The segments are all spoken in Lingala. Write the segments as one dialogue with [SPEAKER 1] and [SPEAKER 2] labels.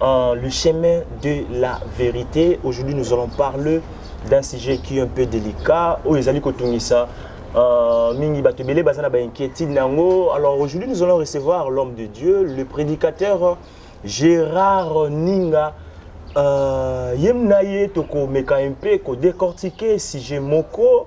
[SPEAKER 1] en le chemin de la vérité. Aujourd'hui, nous allons parler d'un sujet qui est un peu délicat. Oh, ils allaient ça. Euh, mingi bato ebele baza na bainquiétude na yango alors aujourd'hui nous allons recevoir l'homme de dieu le prédicateur gérard ninga euh, ye na ye tokomeka mpe kodécortiquer sujet moko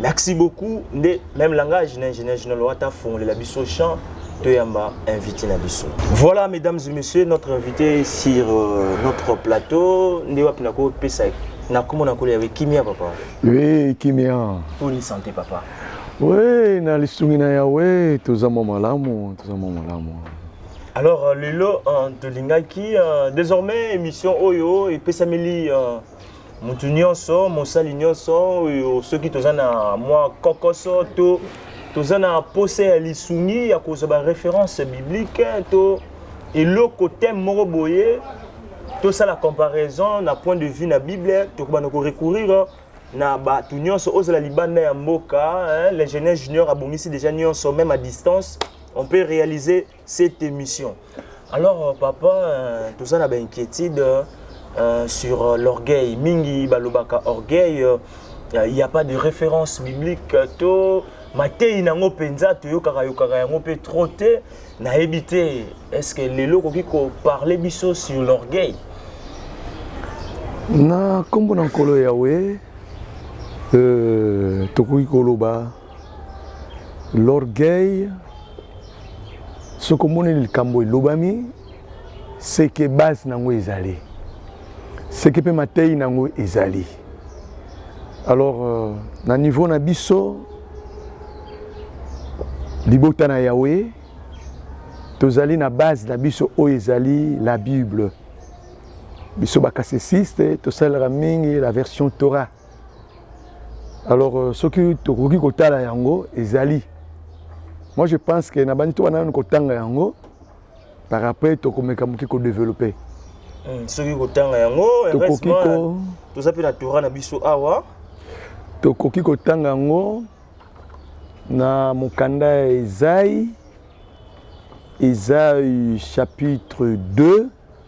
[SPEAKER 1] Merci beaucoup. Nde même langage na ingénieur General Wata fongolela biso champ toyamba invité na biso. Voilà mesdames et messieurs notre invité sur euh, notre plateau nde wapi na ko pesa na komo na kolela kimia papa. Oui, kimia.
[SPEAKER 2] Pour une santé papa.
[SPEAKER 1] Oui, na
[SPEAKER 2] lisungi na Yahweh toza mwa malamu, toza mwa malamu. Alors euh, lelo euh,
[SPEAKER 1] tolingaki euh, désormais émission oyo epesameli euh, moto nyonso mosali nyonso oyo soki toza na mwa kokoso to toza na mposa ya lisungi ya kozwa bareference biblique to eloko teme moko boye tosala comparaison na point de vue na bible tokobanda korecourir na bato nyonso ozala libanda ya mboka l'ingénieur junior abongisi déjà nyonso même à distance on peut réaliser cette émission. Alors, euh, papa, euh, tout ça, on a une inquiétude euh, sur l'orgueil. Mingi, balobaka, orgueil, il n'y a pas de référence biblique. Tout, mateyi na yango mpenza toyokaka yokaka yango mpe trop te nayebi te est ce que lelo okoki koparle biso sur l'orgueil
[SPEAKER 2] na nkombo na nkolo yawe euh, tokoki koloba L'orgueil, soki omoni likambo elobami, seke base nango ezali, seke mpe mateyi nango ezali. Alors euh, na niveau na biso libota na Yahweh tozali na base na biso oyo ezali la Bible. biso bakasesiste tosalelaka mingi la version torah alors euh, soki tokoki kotala yango ezali moi je pense que na bandi tobanda nanu kotanga yango par après tokomeka moke kodeveloppe hmm, soki
[SPEAKER 1] kotanga yango tokoki ko toza mpe na tora na biso awa tokoki
[SPEAKER 2] kotanga yango na mokanda ya ezai ezai chapitre 2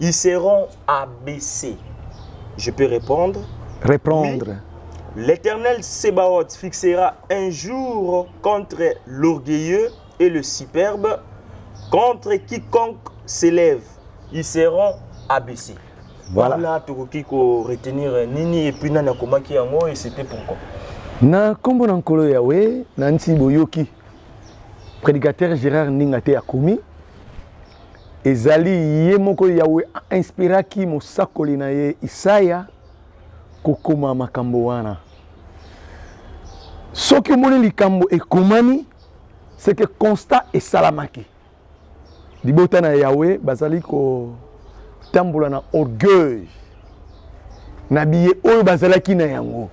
[SPEAKER 1] Ils seront abaissés. Je peux répondre Reprendre.
[SPEAKER 2] Oui.
[SPEAKER 1] L'Éternel Sébaoth fixera un jour contre l'orgueilleux et le superbe, contre quiconque s'élève. Ils seront abaissés. Voilà. Voilà, tokoki ko retenir nini et puis nani akomaki yango et c'était pourquoi. na nkombo
[SPEAKER 2] na nkolo yawe na nsi boyoki prédicateur gérard ndinga te akomi Ezali ye moko Yawe a inspiraki mosakoli na ye Isaya kokoma makambo wana. Soki omoni likambo ekomami, c'est que constat esalamaki. Libota na Yawe bazali kotambola na orgueil na biye oyo bazalaki na yango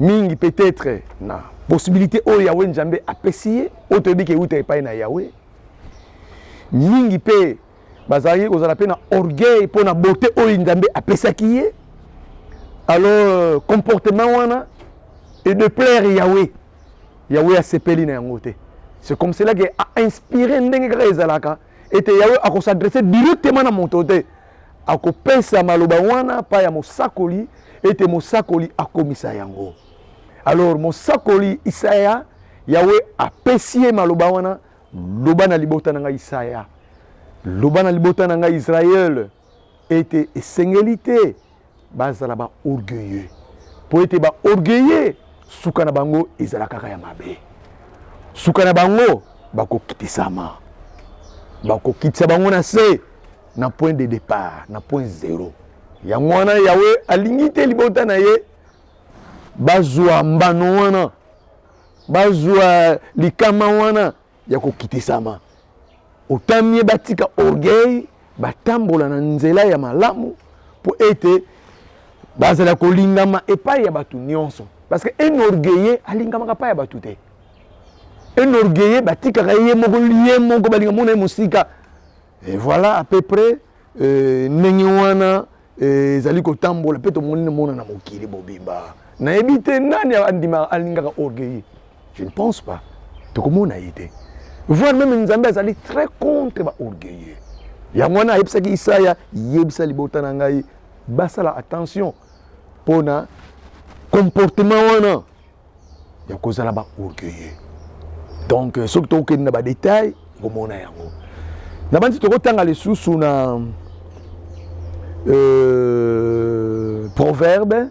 [SPEAKER 2] mingi peut-être na possibilité oyo Yawe Njambe apesi ye oyo toyebi ke euta epai na Yawe mingi mpe bazalaki kozala mpe na orgueil mpo na bote oyo nzambe apesaki ye alors euh, comportement wana et de plaire yahweh yahweh asepeli na yango te c'est comme cela ke ainspire ndenge kaka ezalaka ete yahweh akosadresse directement na moto te akopesa maloba wana mpa ya mosakoli ete mosakoli akomisa yango alors mosakoli isaya yawe apesi ye maloba wana loba na libota na ngai isaya loba na libota na ngai israele ete esengeli te bazala baorgueilleux mpo ete baorgueilleux suka na bango ezala kaka ya mabe suka na bango bakokitisama bakokitisa bango na se na point de départ na point zero yango wana yawe alingi te libota na ye bazwa mbano wana, bazwa likama wana ya kokitisama. Otamie batika orgueil, batambola na nzela ya malamu mpo ete bazala kolingama epai ya bato nyonso parce que un orgueilleux alingamaka epai ya bato te un orgueilleux batikaka ye moko ye moko balinga mona ye mosika et voilà à peu près euh, ndenge wana eh, ezali kotambola mpe tomoni nomona na mokili bobimba nayebi te nani andima alingaka orgueilleux je ne pense pas tokomona ye te voir meme nzambe azali très contre baorgueilleux yango wana ayebisaki isaya yebisa libota na ngai basala attention mpo na comportement wana ya kozala ba orgueilleux donc euh, soki tokokende na badetail okomona yango na banzi tokotanga lisusu na euh, proverbe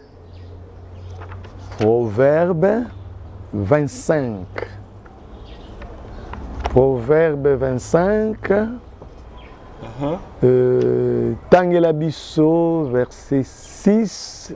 [SPEAKER 2] proverbe 25 proverbe 25 uh -huh. euh, tangela biso verset 6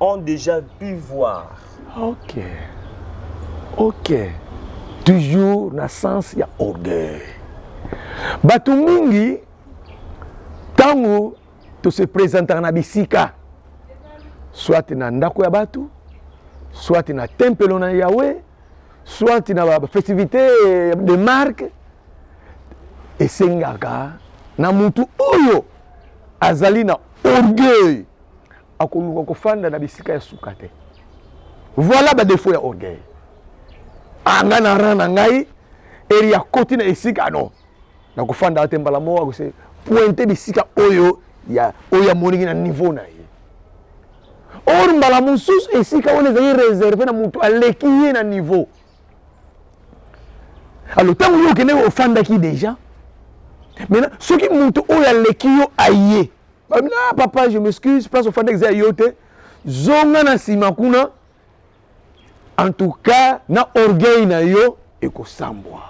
[SPEAKER 1] ont déjà pu voir. Ok.
[SPEAKER 2] Ok. Toujours na sens ya orgueil. Bato mingi ntango tose presentaka na bisika soit na ndako ya bato soit na tempelo na yawe soit na bafestivité de marque esengaka na motu oyo azali na orgueil akoluka kofanda na bisika ya suka te voilà badefo ya orgueil anga ah, na ran na ngai eri akoti na esika no nakofanda te mbala moko akose pointe bisika oyo ya oyo amoniki na niveau na ye or mbala mosusu esika wana ezali reserve na moto aleki ye na niveau alo ntango yo okendeki ofandaki deja maintenant soki moto oyo aleki yo aye Babina papa je m'excuse place ofandaki eza ya yo te zonga na nsima kuna en tout cas na orgueil na yo ekosambwa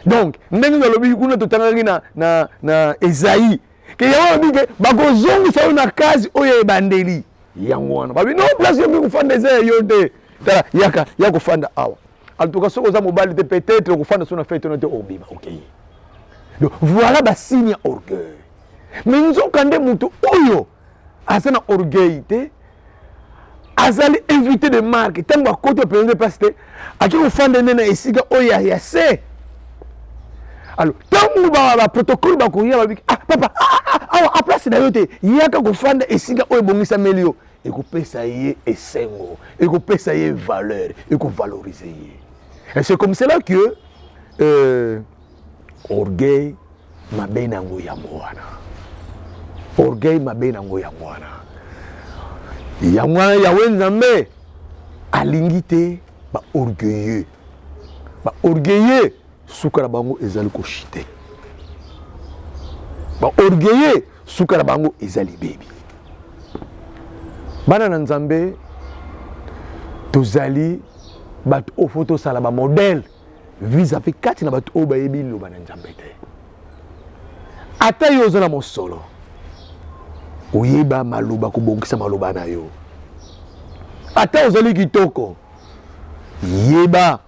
[SPEAKER 2] donc ndenge nalobiki kuna totangaki na, na, na ezai ke yango alobi ke bakozongisa yo na kazi oyo ya ebandeli yango wana babi no place yo mikofanda eza ya yo te tala yaka ya kofanda awa en tout cas soki oza mobali te peut-être okofanda so na fete wana te obima okei donc voilà basigne ya orgueil me nzoka nde moto oyo aza na orgueil te azali invité de marque ntango akoti openza nde mpasi te ake kofanda nde na esika oyo ya, ya se alors ntango baprotocole ba bakoya babiki ah papa ah, ah, ah, awa ah, ah, aplace na yo te yaka kofanda esika oyo ebongisameli yo ekopesa ye esengo ekopesa ye valeur ekovalorize ye et c'est comme cela que euh, orgueil mabe na yango yango wana orgueil mabe na yango yango wana yango wana yawe nzambe alingi te baorgueilleux baorgueilleux suka na bango ezali ko chute ba orgueilleux suka na bango ezali bebi bana na nzambe tozali bato oyo fo tosala bamodele vis-à-vis kati na bato oyo bayebi liloba na nzambe te ata yo oza na mosolo oyeba maloba kobongisa maloba na yo ata ozali kitoko yeba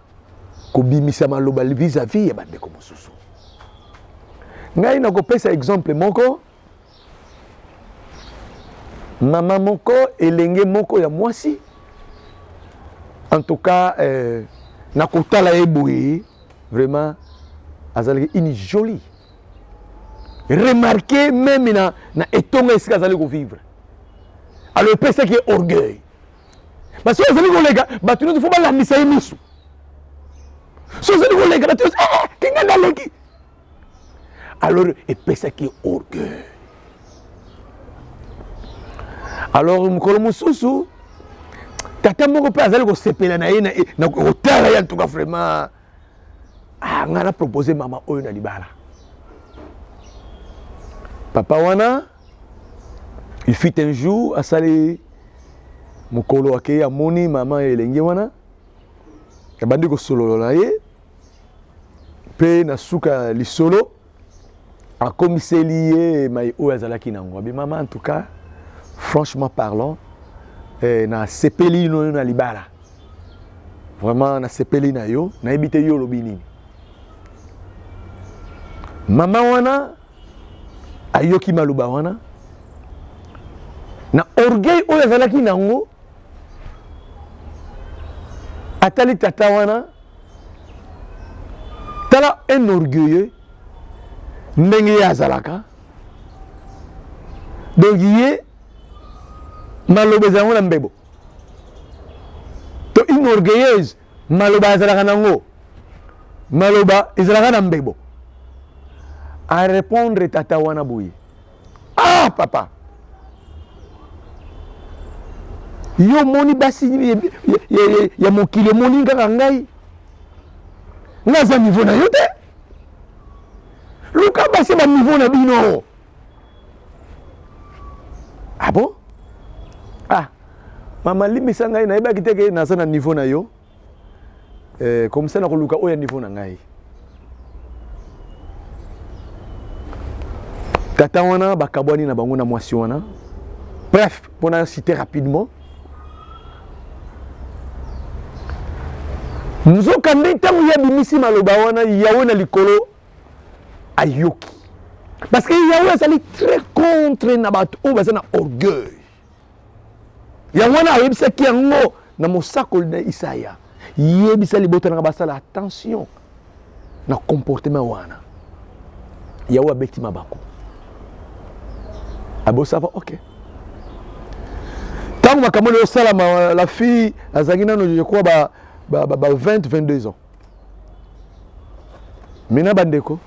[SPEAKER 2] kobimisa maloba vis-à-vis ya bandeko mosusu. Ngai nakopesa exemple moko, mama moko elenge moko ya mwasi en tout cas euh, nakotala ye boye vraiment azalaki une jolie remarquer meme na, na etonga esika azali kovivre alors epesaki ye orgueil basi azali koleka bato nyonso fo balandisa ye miso so ozali koleka bato nyonso eh, kinga naleki alors epesaki ye orgueil alors mokolo mosusu tata moko mpe azali kosepela na ye na kotala ye antuka vraiment ah, ngai na propose mama oyo na libala papa wana il fit un jour asali mokolo akei amoni mama ya elenge wana abandi kosolola na ye mpe na suka ya lisolo akomiseli ye mai oyo azalaki nango abi mama en tout cas franchement parlant eh, nasepeli ino yo na libala vraiment nasepeli na yo nayebi te yo olobi nini mama wana ayoki maloba wana na orgueil oyo azalaki nango atali tata wana tala un orgueilleux ndenge ye azalaka donc ye maloba ezala yango na mbebo to une orgueilleuse maloba azalaka nango maloba ezalaka na mbebo arépondre tata wana boye ah papa yo omoni basi ya mokili omoni kaka ngai nga aza niveau na yo te luka basi ya baniveau na bino abo ah, ah mama limbisa ngai nayebaki te ke naza na niveau na yo eh, komisa na koluka oyo ya niveau na ngai tata wana bakabwani na bango na mwasi wana bref mpo na cite rapidement nzoka nde ntango ye abimisi maloba wana yawe na likolo ayoki parce que yawe azali très contre na bato oyo baza na orgueil yango wana ayebisaki yango na mosakoli na isaya yebisa libota nanga basala attention na comportement wana yawe abeti mabaku abosava ok ntango makambo oyo esalama la fille azalaki nano je crois ba, ba, ba, ba 20 22 ans Mina bandeko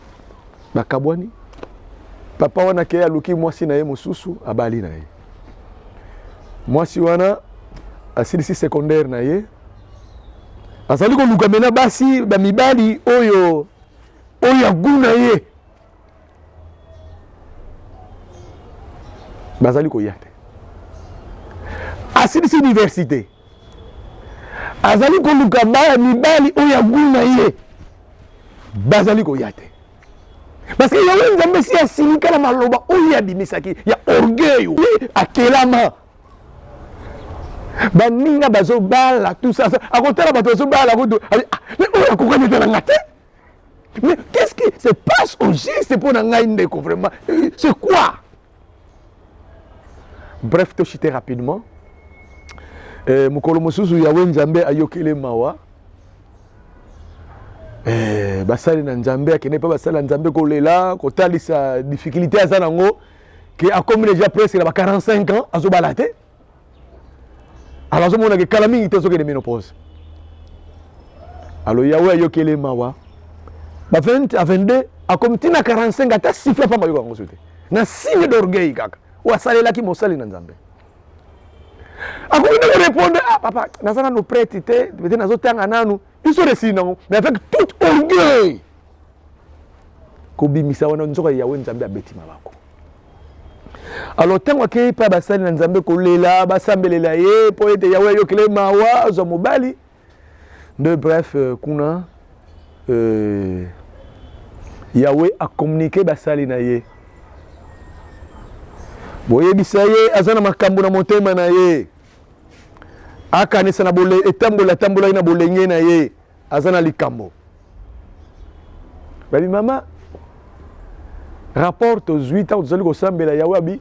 [SPEAKER 2] bakabwani, papa wana ke aluki mwasi na ye mosusu, abali na ye mwasi wana asilisi secondaire na ye, azali koluka mena basi bamibali oyo oyo ya gu na ye bazali koya te asilisi universite azali koluka baya mibali oyo ya guu na ye bazali koya te parce que yango nzambe esi asilika na maloba oyo abimisaki ya orgueil oyo akelama baninga bazobala tout ça akotala bato bazobala kutu ah, oyo akokani ete na nga te mais qu'est-ce qui se passe au juste mpo na ngai ndeko vraiment euh, c'est quoi bref toshite rapidement eh, mokolo mosusu yawe nzambe ayokele mawa eh, basali na nzambe akende mpe basali na nzambe kolela kotalisa difficulté aza nango ke akomi deja presque na ba 45 ans azobala te alors azomona ke kala mingi te azokende menopause alors yawe ayokele mawa ba 20 a 22 akomi ntina 45 ata sifla mpamba yoka yango so te na signe d'orgueil kaka oyo asalelaki mosali na nzambe akoki nde korepondre ah papa naza nano prete te pete nazotanga nanu biso resili nango mais avec toute orgueil kobimisa wana nzoka ya Yahweh Nzambe abeti mabaku alors ntango akei epai basali na nzambe kolela basambelela ye mpo ete yawe ayokele mawa azwa mobali nde bref euh, kuna euh, yawe akomunike basali na ye boyebisa ye aza na makambo na motema na ye akanisa na etamboli atambolaki na bolenge na ye aza na likambo babi mama rapport tozwi ntango tozali kosambela yawe abi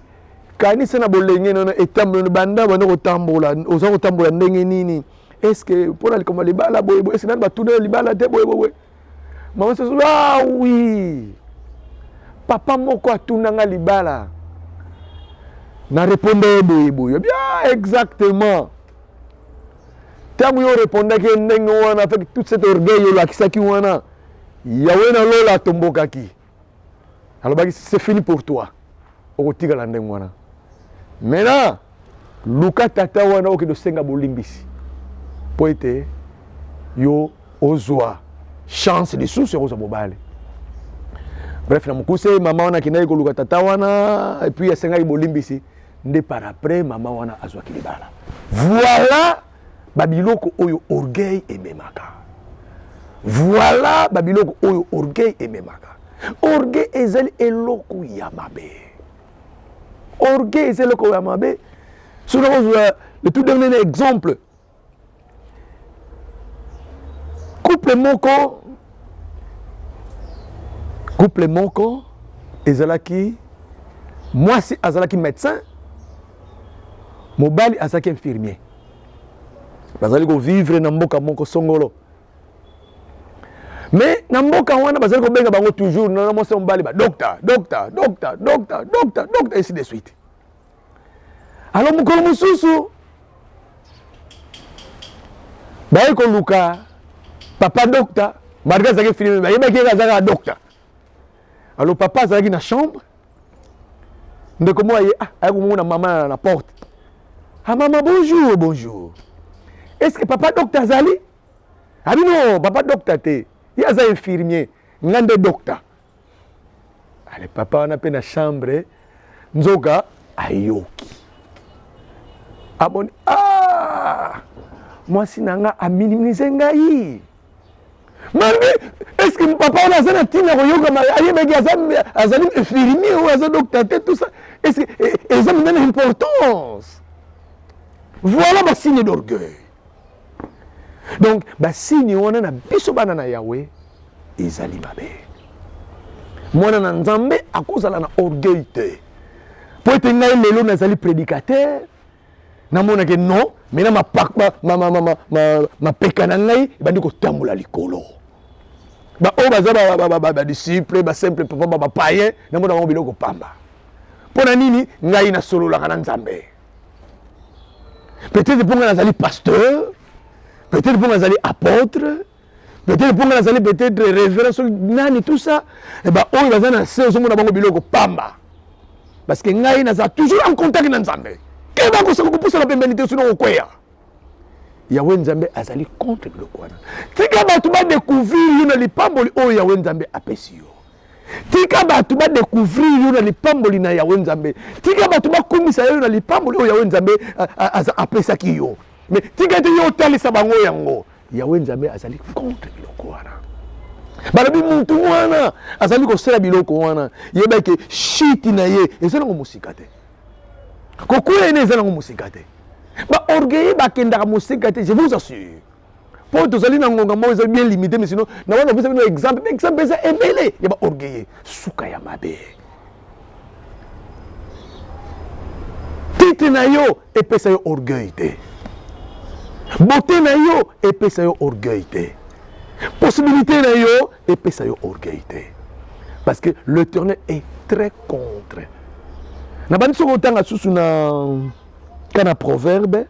[SPEAKER 2] kanisa na bolenge nono etamboli banda banda kotambola oza kotambola ndenge nini eske mpo na likambo ya libala boye boye eske nani batuna libala te boye boye mama soso ah oui papa moko atuna nga libala na reponde ye boye boye bia ah, exactement ntango yo orepondaki ye ndenge wana avec toute cette orgueil olakisaki wana yawe na lola atombokaki alobaki c'est fini pour toi okotikala ndenge wana maintenant luka tata wana okende osenga bolimbisi mpo ete yo ozwa chance lisusu ya kozwa mobali bref na mokuse mama wana akendaki koluka tata wana epuis asengaki bolimbisi nde par après mama wana azwaki libala voilà babiloko oyo orgueil ememaka voilà babiloko oyo orgueil ememaka orgueil ezali eloko ya mabe orgueil ezali eloko ya mabe soki nakozwa le tout dernier exemple couple moko couple moko ezalaki mwasi azalaki médecin mobali azalaki infirmier bazali kovivre na mboka moko songolo me na mboka wana bazali kobenga bango toujours na mwasi ya mobali badokta dokta dokta dokta dokta dokta esi de suite alors mokolo mosusu baye koluka papa docta malgré azalaki filime bayebaki yeke azalaka docta alors papa azalaki na chambre ndeko moko aye ah, aya komona mama na porte ah mama bonjour bonjour est ce que papa docta azali abi ah, no papa docta te ye aza infirmier ngai nde docta ale papa wana mpe na chambre nzoka ayoki amoni ah! mwasi na nga aminimize ngai malgre est ce que papa wana aza na ntina koyoka ayebaki azali infirmier oyo aza dokta te tout ça est ce que eza mpenza na importance voilà basigne d'orgueil donc basini wana na biso bana na yawe ezali mabe mwana na nzambe akozala na orgueil te mpo ete ngai lelo nazali prédicateur namonake non mai na mapeka na ngai ebandi kotambola likolo baoyo baza badisciple basimple papa bapayen namona bango biloko pamba mpo na nini ngai nasololaka na nzambe peut-être mpo ngai nazali pasteur peut-être mpo ngai nazali apôtre peut-être mpo ngai nazali peut-être révérend soki nani tout ça eh baoyo baza na se ozomona bango biloko pamba parce que ngai naza toujours en contact na nzambe keba kosaka kopusana pembeni te sino kokweya yawe nzambe azali contre biloko wana tika bato badecouvrir yo na lipamboli oyo yawe nzambe apesi yo tika bato ba découvrir yo na lipamboli na yawe nzambe tika bato bakumisa yo na lipamboli oyo yawe nzambe apesaki yo mais tika ete yo otalisa bango yango yawe nzambe azali contre biloko wana balobi mutu wana azali kosala biloko wana yeba eke shiti na ye eza nango mosika te kokwea ene eza nango mosika te baorgueille bakendaka mosika te je vous assure mpo tozali na ngonga moko ezali bien limité mais sinon na wana opesa bino exemple exemple eza ebele ya baorgueille suka ya mabe titre na yo epesa yo orgueil te beauté na yo epesa yo orgueil te possibilité na yo epesa yo orgueil te parce que l'éternel est très contre nabandi soki otanga susu na ka na proverbe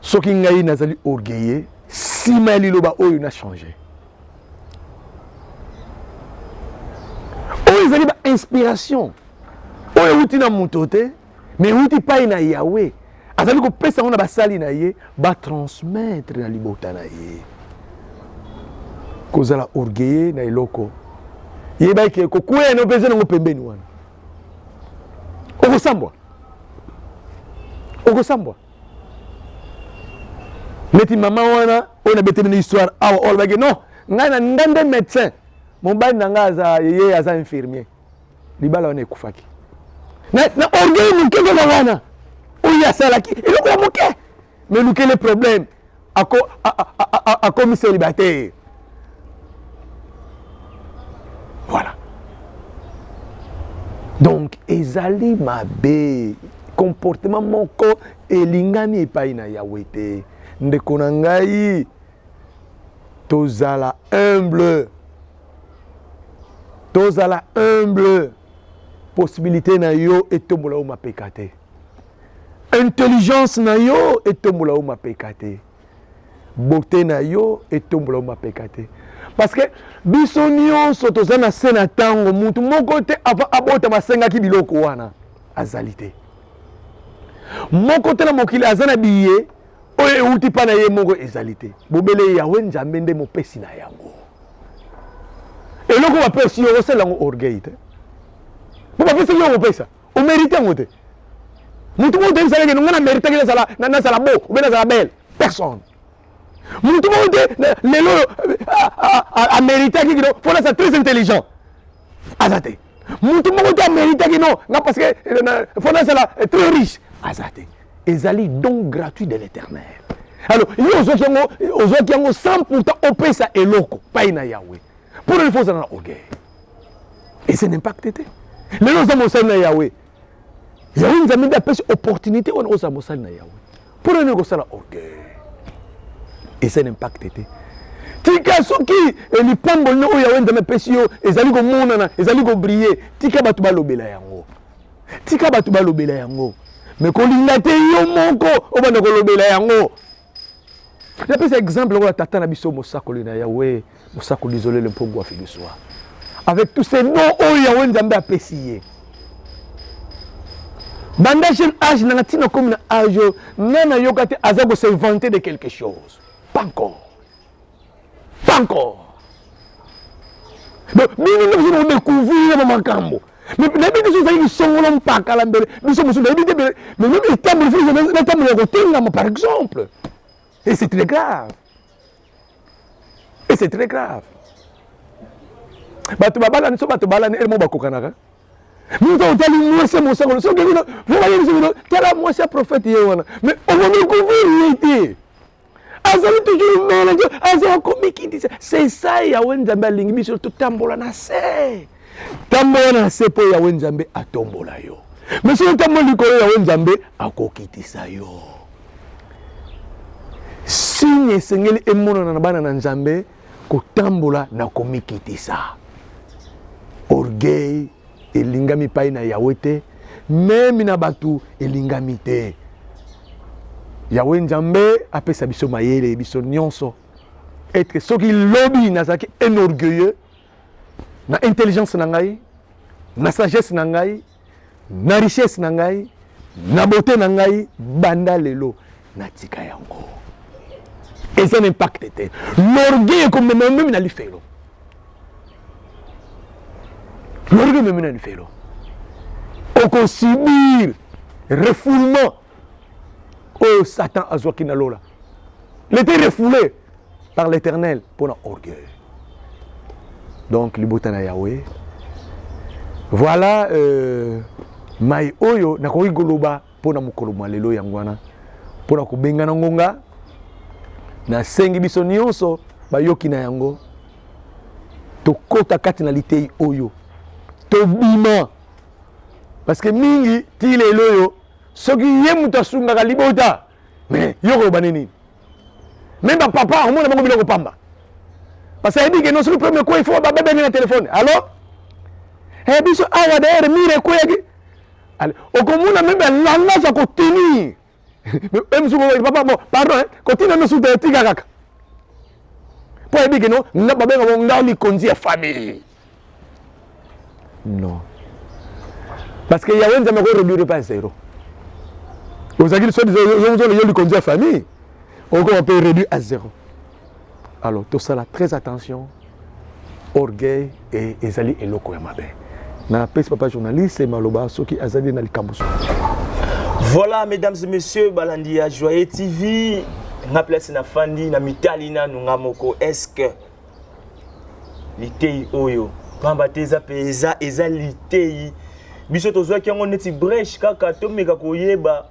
[SPEAKER 2] soki ngai nazali orgueilleux nsima ya liloba oyo na change oyo ezali bainspiration oyo euti na moto te mais euti pai na yawe azali kopesa yango na basali na ye batransmettre na libota na ye kozala orgueilleux na eloko yebaki kokwea na opeza nango pembeni wana okosambwa okosambwa neti mama wana oyo nabeteli na histoire awa oyo alobaki non ngai na ngai nde médecin mobali na ngai aza ye aza infirmier libala wana ekufaki na orgueil moke kaka wana oyo asalaki eloko ya moke mais lukele problème akomi célibataire voilà donc ezali mabe comportement moko elingami epai na yawe te ndeko na ngai tozala humble tozala humble possibilité na yo etombola yo mapeka te Intelligence na yo etombola yo mapeka te. Beauté na yo etombola yo mapeka te. Parce que biso nyonso toza na se na ntango motu moko te avant abota basengaki biloko wana azali te. Moko te na mokili aza na biye oyo euti mpa na ye moko ezali te bobele yawe nzambe nde mopesi na yango eloko bapesi yo osala yango orgueil te mpo bapesaki yo kopesa o merite yango te mutu moko te esalaki nonga na meritaki nazala nazala bo obe nazala belle personne mutu moko te lelo oyo ameritaki kino fo naza très intelligent aza te mutu moko te ameritaki no nga parce que eh, fo nazala eh, très riche aza te ezali don gratuit de l'éternel alors yo ozwaki yango ozwaki yango sans pourtant opesa eloko pai na yawe mpo nani fo ozala na orgueil ese na impacte te lelo oza mosali na yawe yawe nzambe nde apesi opportunité wana ozala mosali na yawe mpo na nini kosala orgueil ese na impacte te tika soki eh, lipamboli na oyo yawe nzambe apesi yo ezali komonana ezali kobrille tika bato balobela yango tika bato balobela yango me kolinga te yo moko obanda kolobela yango napesa exemple lokola tata na biso mosakoli na yawe mosakoli izolele mpongo afiliswa avec tous ces noms oyo yawe nzambe apesi ye banda jeune age nanga ntina komi na age oyo ngai nayoka te aza ko se vante de quelque chose pas encore pas encore donc bino nde bozona kodécouvrir na bamakambo nayebi te soki ezali lisongolo mpaka la mbele biso mosusu nayebi te mais meme etamboli fo natambola ya kotengama par exemple et c'est très grave et c'est très grave bato babalani so bato balani elemo bakokanaka moto otali mwasi ya mosangolo soki vraimayebiso bino tala mwasi ya profete ye wana mais okomi kouvrir ye te azali toujours mele nzo azala komikitisa sesa yawe nzambe alingi biso totambola na se tambola na se mpo yawe nzambe atombola yo me soki otambola likolo yawe nzambe akokitisa yo signe esengeli emonana na bana na nzambe kotambola na komikitisa orgueil elingami epai na yawe te memi na bato elingami te yawe nzambe apesa biso mayele biso nyonso etre soki lobi nazalaki un orgueilleux na intelligence na ngai na sagesse na ngai na richesse na ngai na bote na ngai banda lelo natika yango eza na impacte te lorgueil ekomema omemi na lifelo lorgueil omemi na lifelo okosubir refoulement oyo satan azwaki na lola lete refoule par l'éternel mpo na orgueil donc libota na yawe voilà euh, mai oyo nakoki koloba mpo na mokolo mwa lelo yango wana mpo na kobengana ngonga nasengi biso nyonso bayoki na yango tokota kati na litei oyo tobima parce que mingi ti lelo oyo soki ye moto asungaka libota me yo koloba nini meme bapapa omona bango biloko pamba parce ayebi ke no soki problème ekweyi fo babebenge na telefone alo e biso awa dayere mire ekweyaki okomona meme alangage ya kotenir emisuku papa bon pardon kotina misuku te etika kaka mpo ayebi ke no babenga ngo nga likonzi ya famille Non. Parce que Yahweh Nzambe ko réduire pas zéro. ozalaki soi disant yo likonzi ya famille okoma mpe réduit à zéro alors tosala très attention orgueil e ezali eloko ya mabe napesi papa journaliste maloba soki azali na likambo so
[SPEAKER 1] voilà mesdames et messieurs balandi ya joye tv nga place na fandi na mitali nanu nga moko est ce que liteyi oyo pamba te eza mpenza eza liteyi biso tozwaki yango neti breche kaka tomeka koyeba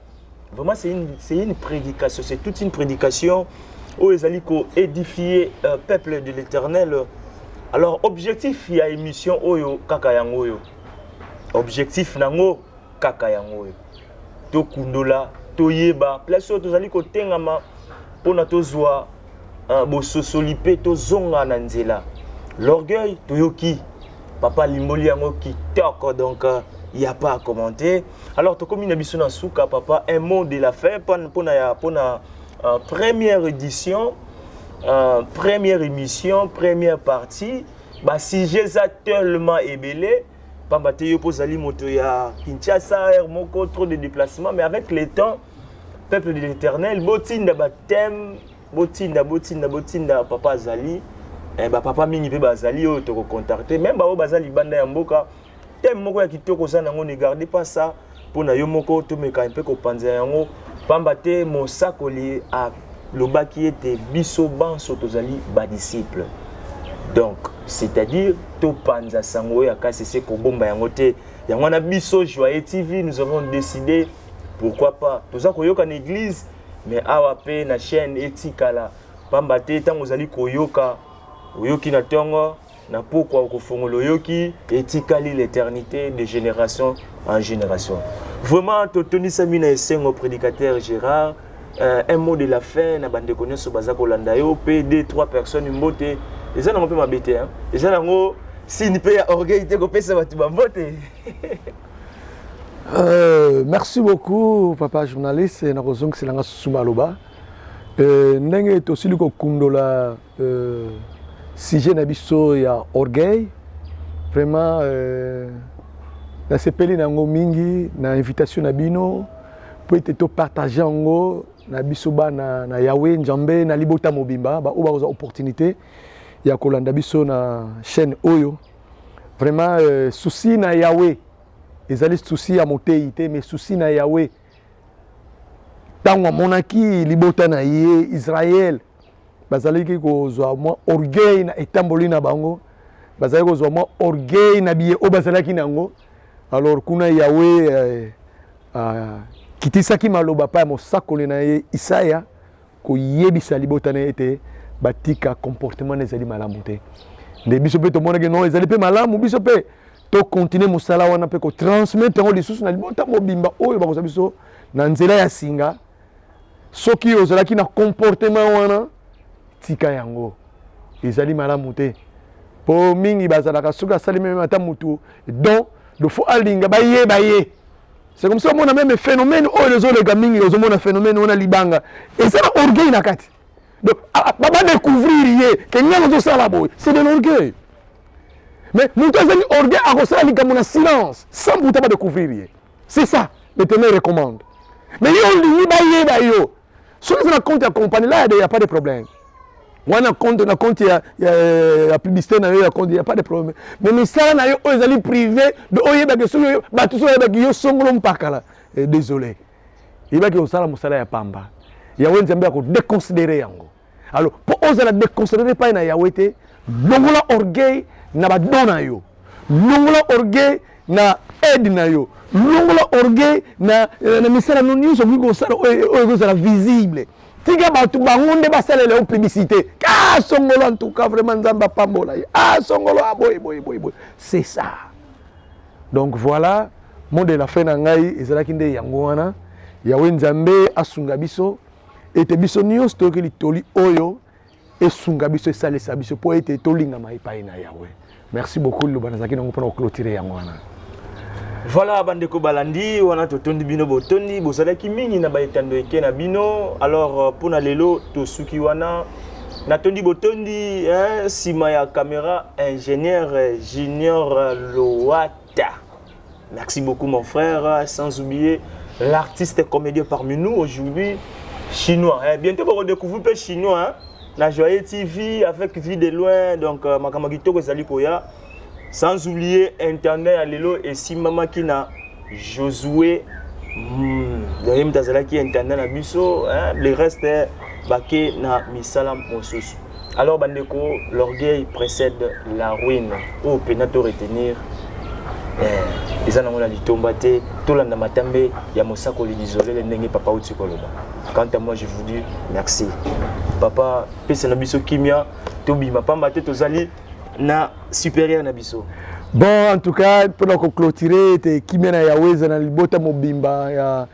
[SPEAKER 1] vraiment c'est une, c'est une prédication c'est toute une prédication oyo ezali koédifie euh, peuple de l'éternel alors objectif ya émission oyo kaka yango oyo objectif nango kaka yango oyo tokundola toyeba place oyo tozali kotengama mpona tozwa Ah, bososoli pe tozonga na nzela. L'orgueil toyoki papa alimboli yango kitoko donc euh, il n'y a pas à commenter. Alors tokomi na biso na suka papa un mot de la fin pona ya pona euh, première édition euh, première émission première partie ba sujet za tellement ebele pamba te yo mpo ozali moto ya Kinshasa heure moko trop de déplacement mais avec le temps peuple de l'éternel botinda bateme botinda botinda botinda papa azali eh, bapapa mingi mpe bazali oyo tokocontacte meme baoyo baza libanda ya mboka teme moko ya kitoko oza nango ne garde pas ça mpo na yo moko tomeka mpe kopanzela yango mpamba te mosakoli alobaki ete biso banso tozali badisiple donc c'est-à-dire topanza sango oyo ya kasi se kobomba yango te yango wana biso joye tv nous avons décidé pourquoi pas toza koyoka na eglise mais awa pe na chaîne etikala pamba te ntango ozali koyoka oyoki na ntongo na pokwa okofongola oyoki etikali l'éternité de génération en génération vraiment totondisami na esengo prédicateur gérard euh, un mot de la fin na bandeko nyonso baza kolanda yo mpe de trois personnes mbote eza nango mpe mabe te eza nango sini mpe ya orgueil te kopesa bato bambote Euh,
[SPEAKER 2] merci beaucoup papa journaliste na kozongisela nga susu maloba euh, ndenge tosili kokundola euh, sujet na biso ya orgueil vraiment euh, nasepeli na yango mingi na invitation na bino mpo ete topartage yango na biso bana na yawe njambe na libota mobimba baoyo bakozwa opportunité ya kolanda biso na chaîne oyo Vraiment euh, souci na Yahweh ezali souci ya moteyi te mais souci na Yahweh ntango amonaki libota na ye Israël bazalaki kozwa mwa orgueil na etamboli na bango bazalaki kozwa mwa orgueil na biye oyo bazalaki na yango alors kuna Yahweh euh, euh, kitisaki maloba pa ya mosakoli na ye Isaya koyebisa libota na ye ete batika comportement na ezali malamu te nde biso mpe tomonaki no ezali mpe malamu biso mpe tokontinue mosala wana mpe kotransmettre yango lisusu na libota mobimba oyo bakozwa biso na nzela ya singa soki ozalaki na comportement wana tika yango ezali malamu te mpo mingi bazalaka soki asali meme ata motu don lofo alinga bayeba ye c'est comme ça omona meme phénomène oyo ezoleka mingi ozomona phénomène wana libanga eza na orgueil na kati donc ah, ah, badécouvrir ye ke ngai ozosala boye c'est de l'orgueil mais moto azali orgueil akosala likambo na silence sans buta badécouvrir ye c'est ça le témoin recommande mais yo olingi bayeba yo soki eza na compte ya compagnie là il y a pas de problème wana compte na compte ya, ya, ya publicité na yo ya compte ya pas de problème mais misala na yo oyo ezali privé do oyebaki soki bato soki oyebaki yo songolo mpakala eh, désolé yebaki osala mosala ya pamba yawe nzambe akodeconsidere yango alors mpo ozala deconcentre epai na yawe te longola orgueil na badon na yo longola orgueil na aide na yo longola orgueil na, eh, na misala no nyonso okoki kosala oyo ekozala visible tika bato bango nde basalela yo publicité asongolo ah, en tout cas vraiment nzambe apambola ye asongolo ah, aboye ah, boye boye boye c'est ça donc voilà mot de la fin na ngai ezalaki nde yango wana yawe nzambe asunga biso ete biso nyonso toyokeli toli oyo esunga biso esalisa biso mpo ete tolingama epai na yawe merci beaucoup liloba nazalaki nango mpona koclotire yango wana Voilà
[SPEAKER 1] bandeko balandi wana totondi bino botondi bozalaki mingi na baetando eke na bino alors euh, mpo na lelo tosuki wana natondi botondi nsima ya kamera ingénieur junior loat Ta. Merci beaucoup mon frère, sans oublier l'artiste comédien parmi nous aujourd'hui, chinois. Eh, bientôt vous redécouvrez peu chinois hein? na Joyeux TV avec Vie de loin donc euh, makambo kitoko ezali koya. Sans oublier intendant ya lelo esimbamaki na Josué hmm, donc ye moto azalaki intendant na biso hein? le reste bake na misala mosusu. Alors bandeko, l'orgueil précède la ruine. Oyo pena to retenir eh, eza nango na litomba te tolanda matambe ya mosakoli lisolele ndenge papa uti koloba quant à moi je vous dis merci papa pesa na biso kimia tobima pamba te tozali na supérieur na biso bon en tout
[SPEAKER 2] cas mpona koclotire ete kimia na yawe eza na libota mobimba ya